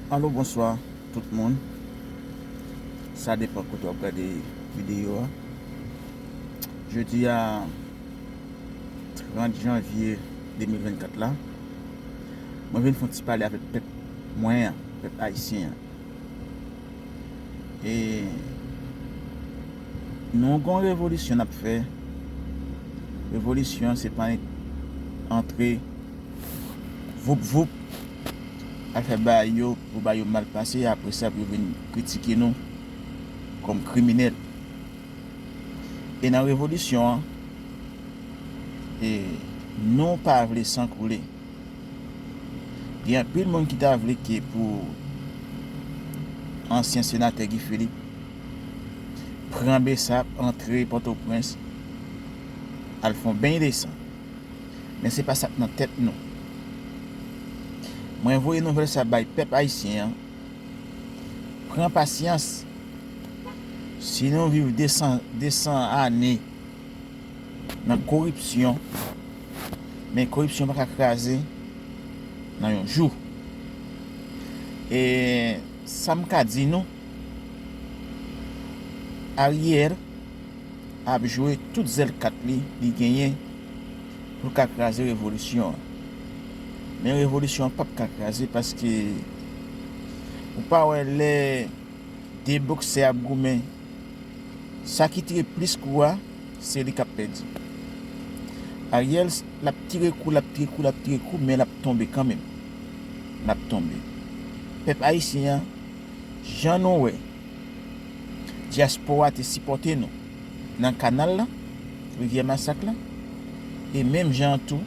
Allo bonswa tout moun sa depan kote wap gade video a jodi a 30 janvye 2024 la mwen vin fon ti pale avèk pèp mwen an pèp ayisyen an. E nou gon revolisyon nap fè Revolisyon se pa antre voup voup Al fè bagay yo pou bagay yo mal pase apre sa pou yo vin kritike nou kòm kriminèl E nan revolisyon an nou pa vle san koule Gen anpil moun ki ta vle ke pou ansyen senatè Guy Philippe pran besap antre pòtoprens al fon beny de san men se pa sak nan tèt nou mwen voye nouvèl sa bay pèp ayisyen an pran pasyans si nou viv 200 ane nan koripsyon men koripsyon pa ka kraze nan yon jou e sa m ka di nou Ariel ap jwe tout zèl kat li li genyen pou l ka kraze revolisyon an men revolisyon an pap ka kraze paske ou pa wè lè 2 boksè ap goumen. Sa ki tire plis kou a se li kap pèdi. Ariel lap tire kou lap tire kou lap tire kou men lap tonbe kanmenm. Lap tonbe. Pèp ayisyen an jan nou wè dyaspora te sipòte nou nan kanal lan, rivyè masak lan e menm jan an tou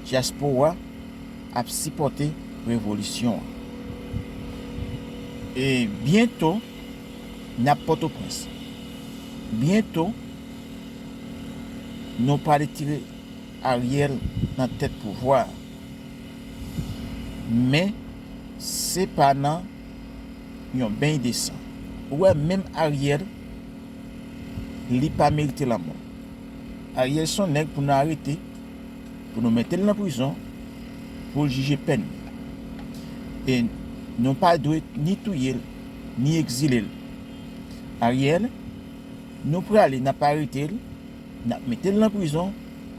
dyaspora ap sipòte revolisyon an. E byento. Nap potoprens byento nou pa retire ariel nan tèt pouvwa men se pa nan yon beny de san ou wè menm ariel li pa merite lanmò ariel son nèg pou nou arete pou nou metel nan prizon poul jije pèn li e nou pa dwe ni touyel. ni ekzile l. Ariel, Nou prale n ap arete l, n ap mete l nan prizon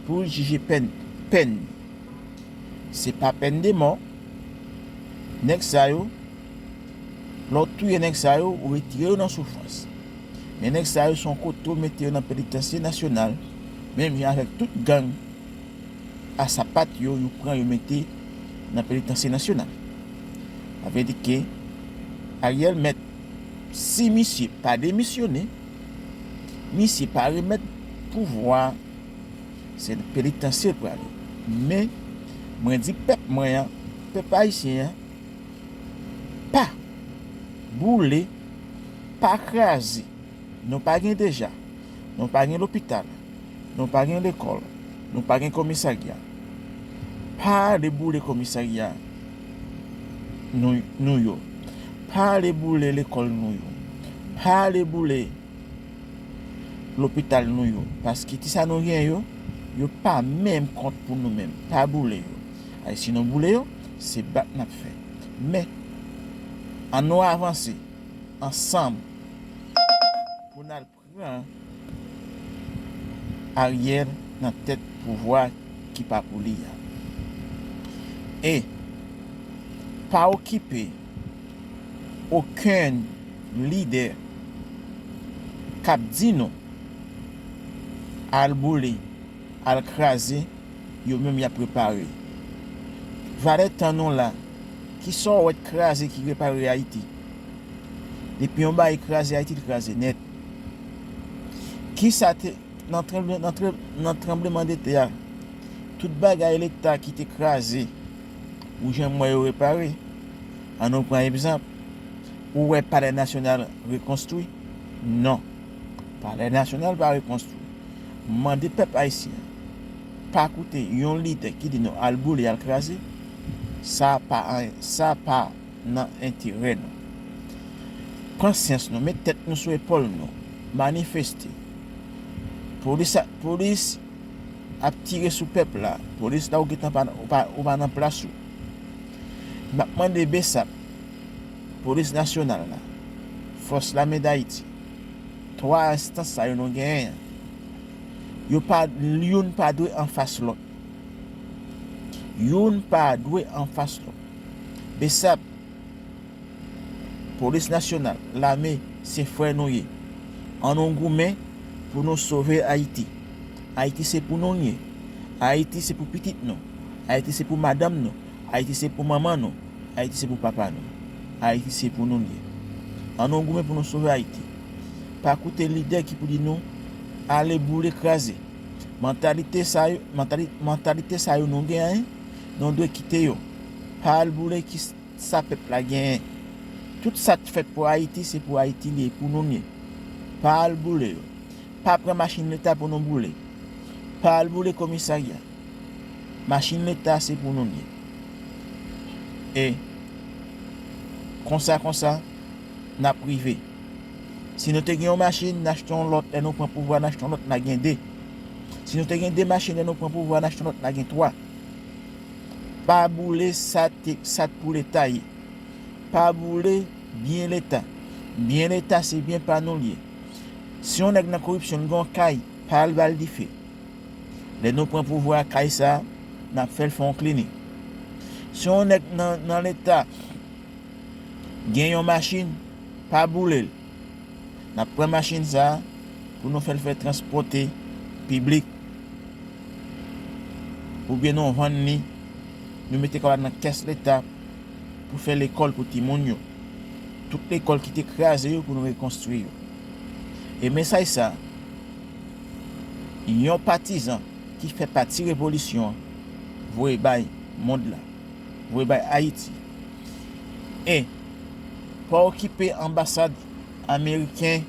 pou l jije pèn pèn li. Se pa pèn de mò. Nèg sa yo, lè w touye nèg sa yo, ou retire yo nan soufrans. Men nèg sa yo se yon kote ou mete yo nan penitansye nasyonal menm jan avèk tout gang. a sapat yo yo pran yo mete nan penitansye nasyonal sa vle di ke Ariel mèt si misye pa demisyone misye pa remèt pouvwa se nan penitansye l pral ye men mwen di pèp mwen an pèp ayisyen an pa boule pa kraze nou pa gen deja Nou pa gen lopital. Nou pa gen lekòl. Nou pa gen komisarya. Pa ale boule komisarya nou yo. Pa ale boule lekòl nou yo. Pa ale boule lopital nou yo. Paske ti sa nou gen yo, yo pa menm kont pou nou menm. Pa boule yo. Ay si nou boule yo, se bat n ap fè. Men, annou avanse ansanm pou n al. Pran Ariel nan tèt pouvwa ki pa pou li a. E pa okipe okenn lidè k ap di nou al boule, al kraze, yo menm y ap repare. Valè tan nou la, kisa w wè t kraze ki repare Ayiti? Depi yon bagay kraze Ayiti li kraze nèt. Kisa te nan tranbleman de tè a tout bagay leta ki te kraze ou jan m wè yo repare. An nou pran egzanp ou wè palè nasyonal rekonstwi? Non. Palè nasyonal pa rekonstwi. M mande pèp ayisyen an pa koute yon lidè ki di nou al boule al kraze sa pa sa pa nan enterè nou. Pran syans nou, met tèt nou sou epòl nou, manifeste. Polis ak polis ap tire sou pèp la, polis la ou gentan pa ou pa nan plas ou. Map mande bsap, polis nasyonal la, fòs lame dayiti, 3 enstans sa yo nou genyen an, yo pa youn pa dwe anfas lòt. Youn pa dwe anfas lòt. Bsap, Polis Nasyonal, Lame, se frè nou ye. An nou goumen pou nou sove Ayiti. Ayiti se pou nou l ye. Ayiti se pou pitit nou. Ayiti se pou madanm nou. Ayiti se pou manman nou. Ayiti se pou papa nou. Ayiti se pou nou l ye. An nou goumen pou nou sove Ayiti. Pa koute lidè ki pou di nou ale boule kraze. Mantalite sa yo nou genyen, nou dwe kite yo pa al boule ki sa pèp la genyen tout sa t fèt pou ayiti se pou ayiti li ye pou nou l ye pa al boule yo pa pran machin leta pou nou boule pa al boule komisarya machin leta se pou nou l ye e konsa konsa nap rive si nou te gen yon machin n achte yon lòt lè nou pran pouvwa n achte yon lòt n a gen 2 si nou te gen 2 machin lè nou pran pouvwa n achte yon lòt n a gen 3. Pa boule sa t pou leta ye pa boule byen leta byen leta se byen pa nou l ye si yon nèg nan koripsyon l gen yon kay pa al ba l dife lè nou pran pouvwa a kay sa n ap fè l fè yon klinik si yon nèg nan leta gen yon machin pa boule l. Nap pran machin sa pou nou fèl fè transpòte piblik oubyen nou vann li nou mete kòb la nan kès leta pou fè lekòl pou timoun yo. Tout lekòl ki te kraze yo pou nou rekonstwi yo. E mesaj sa yon patizan ki fè pati revolisyon voye bay mond la. voye bay Ayiti. E, pa okipe anbasad ameriken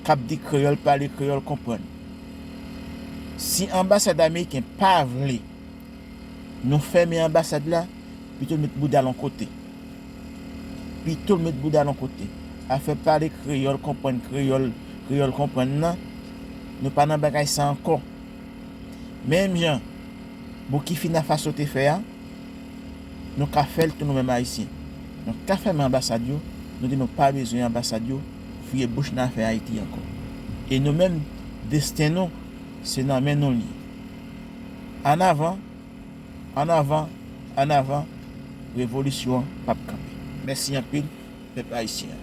k ap di kreyòl pale kreyòl konprann. Si anbasad ameriken pa vle nou fèmen anbasad la, pito l met bouda l on kote. Pito l met bouda l on kote. Afè pale kreyòl konprann kreyòl, kreyòl konprann nan, nou pa nan bagay sa ankò. Menm jan Boukifina Faso te fè a, nou ka fè l tou nou menm Ayisyen. Nou ka fèmen anbasad yo, nou di nou pa bezwen anbasad yo fouye bouch nan afè Ayiti ankò. E nou menm, desten nou, se nan men nou l ye. An avan, an avan, an avan, revolisyon an p ap kanpe. Mèsi anpil, pèp Ayisyen an.